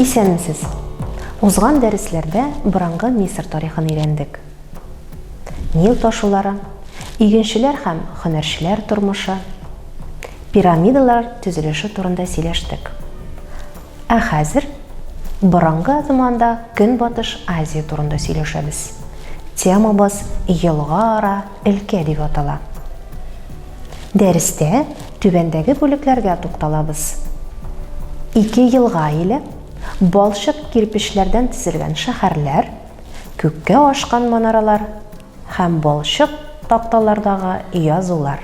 Исәнмесез! Узган дәресләрдә борынгы Мисыр тарихын өйрәндек. Нил ташулары, игенчеләр һәм хөнәрчеләр тормышы, пирамидалар төзелеше турында сөйләштек. Ә хәзер борынгы заманда Көнбатыш Азия турында сөйләшәбез. Темабыз елга ара Элкә дип атала. Дәрестә түбәндәге бүлекләргә тукталабыз. Ике елга иле, балчык кирпечләрдән тезелгән шәһәрләр, күккә ашкан манаралар һәм балчык такталардагы язулар.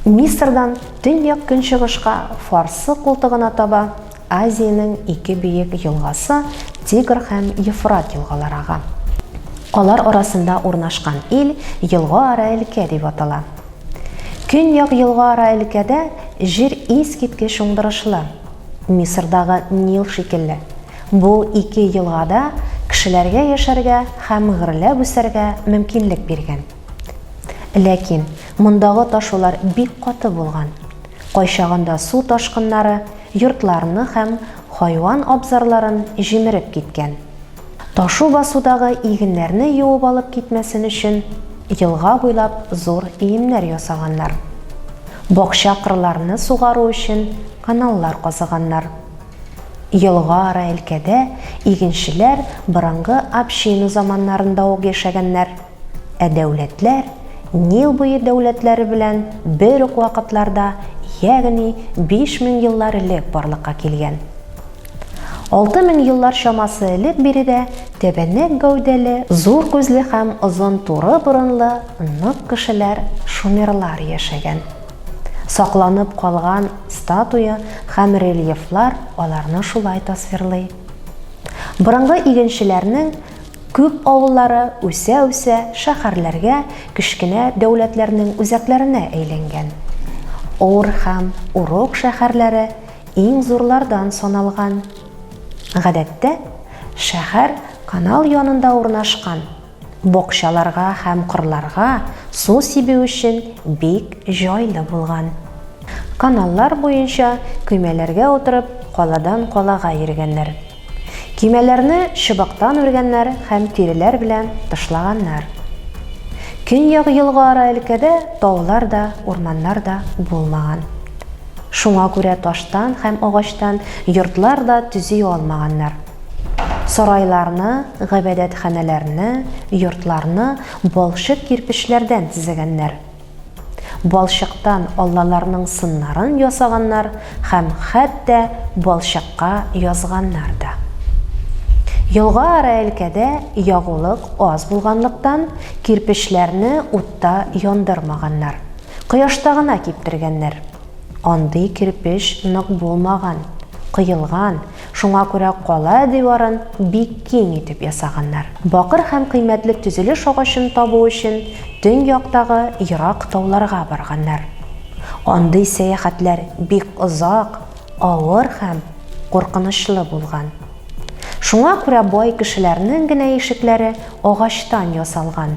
Мисырдан төньяк-көнчыгышка Фарсы култыгына таба Азиянең ике биек елгасы Тигр һәм Ефрат елгалары ага. Алар арасында урнашкан ил елга-ара өлкә дип атала. Көньяк елга-ара өлкәдә җир искиткеч уңдырышлы, Мисырдагы Нил шикелле. Бу ике елга да кешеләргә яшәргә һәм гөрләп үсәргә мөмкинлек биргән. Ләкин мондагы ташулар бик каты булган. Кайчагында су ташкыннары йортларны һәм хайван абзарларын җимереп киткән. Ташу басудагы игеннәрне юып алып китмәсен өчен, елга буйлап зур иемнәр ясаганнар. Бакча-кырларны сугару өчен каналлар казыганнар. Елга ара элкәдә игенчеләр борынгы община заманнарында ук яшәгәннәр. Ә дәүләтләр Нил буе дәүләтләре белән бер үк вакытларда, ягъни 5000 еллар элек барлыкка килгән. 6000 еллар чамасы элек биредә тәбәнәк гәүдәле, зур күзле һәм озын туры борынлы нык кешеләр, шумерлар яшәгән. Сакланып калган статуя һәм рельефлар аларны шулай тасвирлый. Борынгы игенчеләрнең Күп авыллары үсә-үсә шәһәрләргә, кечкенә дәүләтләрнең үзәкләренә әйләнгән. Ор һәм Урок шәһәрләре иң зурлардан саналган. Гадәттә, шәһәр канал янында урнашкан, бакчаларга һәм кырларга су сибү өчен бик җайлы булган. Каналлар буенча көймәләргә утырып, каладан калага йөргәннәр. Көймәләрне чыбыктан үргәннәр һәм тиреләр белән тышлаганнар. Көньяк елга-ара өлкәдә таулар да, урманнар да булмаган. Шуңа күрә таштан һәм агачтан йортлар да төзи алмаганнар. Сарайларны, гыйбадәтханәләрне, йортларны балчык кирпечләрдән төзегәннәр. Балчыктан аллаларның сыннарын ясаганнар һәм хәтта балчыкка язганнар да. Елга Араэлькәдә ягулык аз булганлыктан, кирпечләрне утта яндырмаганнар, кояшта гына киптергәннәр. Андый кирпеч нык булмаган, коелган Шуңа күрә кала диварын бик киң итеп ясаганнар. Бакыр һәм кыйммәтле төзелеш агачын табу өчен төньяктагы ерак тауларга барганнар. Андый сәяхәтләр бик озак, авыр һәм куркынычлы булган. Шуңа күрә бай кешеләрнең генә ишекләре агачтан ясалган,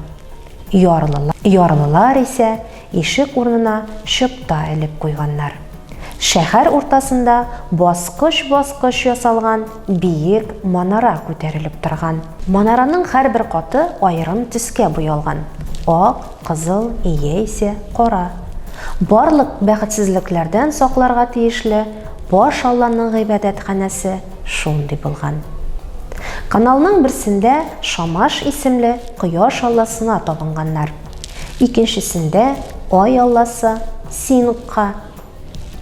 ярлылар исә Ишек урынына чыпта элеп куйганнар. Шәһәр уртасында баскыч-баскыч ясалган биек манара күтәрелеп торган. Манараның һәрбер каты аерым төскә буялган, ак, кызыл яисә кара. Барлык бәхетсезлекләрдән сакларга тиешле баш алланың гыйбадәтханәсе шундый булган. Каналның берсендә Шамаш исемле кояш алласына табынганнар. Икенчесендә Ай алласы Сингха,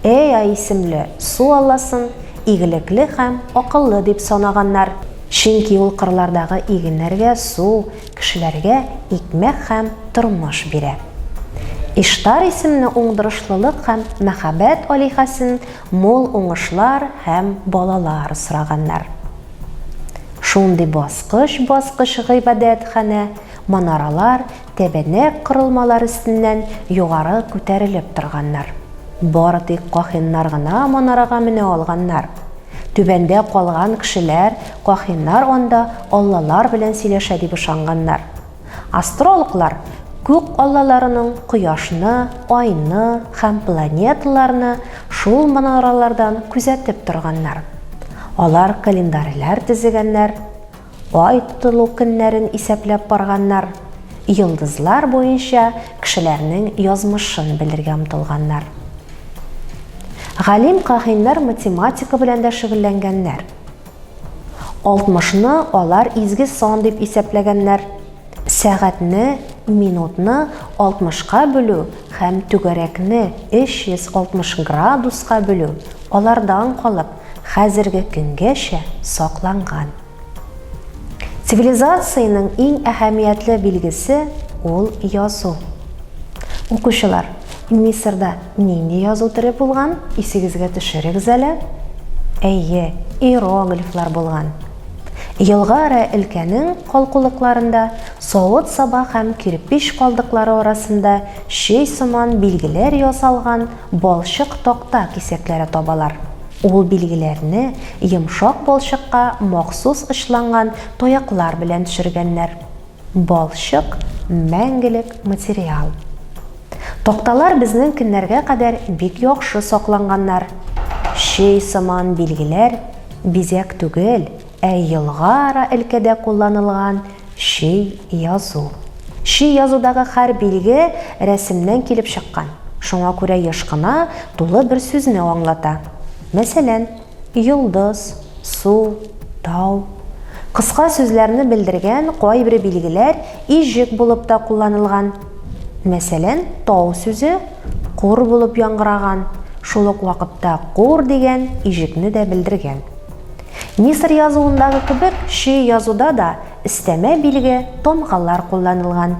Эа исемле су алласын игелекле һәм акыллы дип санаганнар, чөнки ул кырлардагы игеннәргә су, кешеләргә икмәк һәм тормыш бирә. Иштар исемне уңдырышлылык һәм мәхәббәт алиһәсен мул уңышлар һәм балалар сораганнар. Шундый баскыч-баскыч гыйбадәтханә манаралар, тәбәнәк корылмалар өстеннән югары күтәрелеп торганнар. Бары тик кахиннар гына манарага менә алганнар. Түбәндә калган кешеләр кахиннар анда аллалар белән сөйләшә дип ышанганнар. Астрологлар күк аллаларының кояшны, айны һәм планеталарны шул манаралардан күзәтеп торганнар. Алар календарьләр төзегәннәр, Ай тотылу көннәрен исәпләп барганнар, йолдызлар буенча кешеләрнең язмышын белергә омтылганнар. Галим-каһиннар математика белән дә шөгыльләнгәннәр. Алтмышны алар изге сан дип исәпләгәннәр, сәгатьне, минутны алтмышка бүлү һәм түгәрәкне 360 градуска бүлү алардан калып, хәзерге көнгәчә сакланган. Цивилизациянең иң әһәмиятле билгесе ул язу. Укучылар, Мисырда нинди язу төре булган, исегезгә төшерегез әле. Әйе, иероглифлар булган. Елга Ара өлкәнең калкулыкларында, савыт-саба һәм кирпеч калдыклары арасында чөй сыман билгеләр ясалган Балчык такта кисәкләре табалар. Ул билгеләрне йомшак балчыкка махсус очланган таяклар белән төшергәннәр. Балчык, мәңгелек материал. Такталар безнең көннәргә кадәр бик яхшы сакланганнар. Чөй сыман билгеләр, бизәк түгел, Ә елга-ара элкәдә кулланылган чи язу. Чи язудагы хәр билге рәсемнән килеп чыккан, шуңа күрә еш кына тулы бер сүзне аңлата. Мәсәлән, йолдыз, су, тау. Кыска сүзләрне белдергән кайбре билгеләр иҗек булып та кулланылган. Мәсәлән, тау сүзе кур булып яңгыраган, шул ук вакытта кур дигән иҗекне дә белдергән. Мисыр язуындагы кебек чөй язуда да өстәмә билге, тамгалар кулланылган.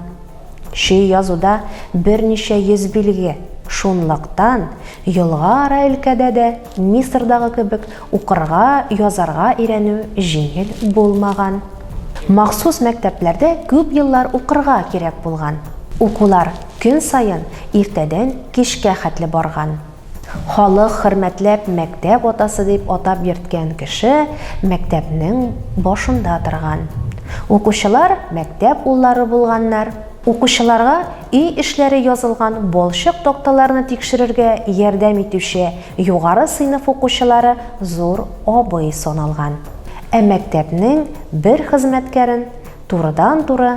Чөй язуда берничә йөз билге, шунлыктан елга ара өлкәдә дә Мисырдагы кебек укырга, язарга өйрәнү җиңел булмаган. Махсус мәктәпләрдә күп еллар укырга кирәк булган. Укулар көн саен иртәдән кичкә хәтле барган. Халык хөрмәтләп мәктәп атасы дип атап йөрткән кеше мәктәпнең башында торган. Укучылар мәктәп уллары булганнар. Укучыларга өй эшләре язылган балчык такталарны тикшерергә ярдәм итүче югары сыйныф укучылары зур абый саналган. Ә мәктәпнең бер хезмәткәрен турыдан-туры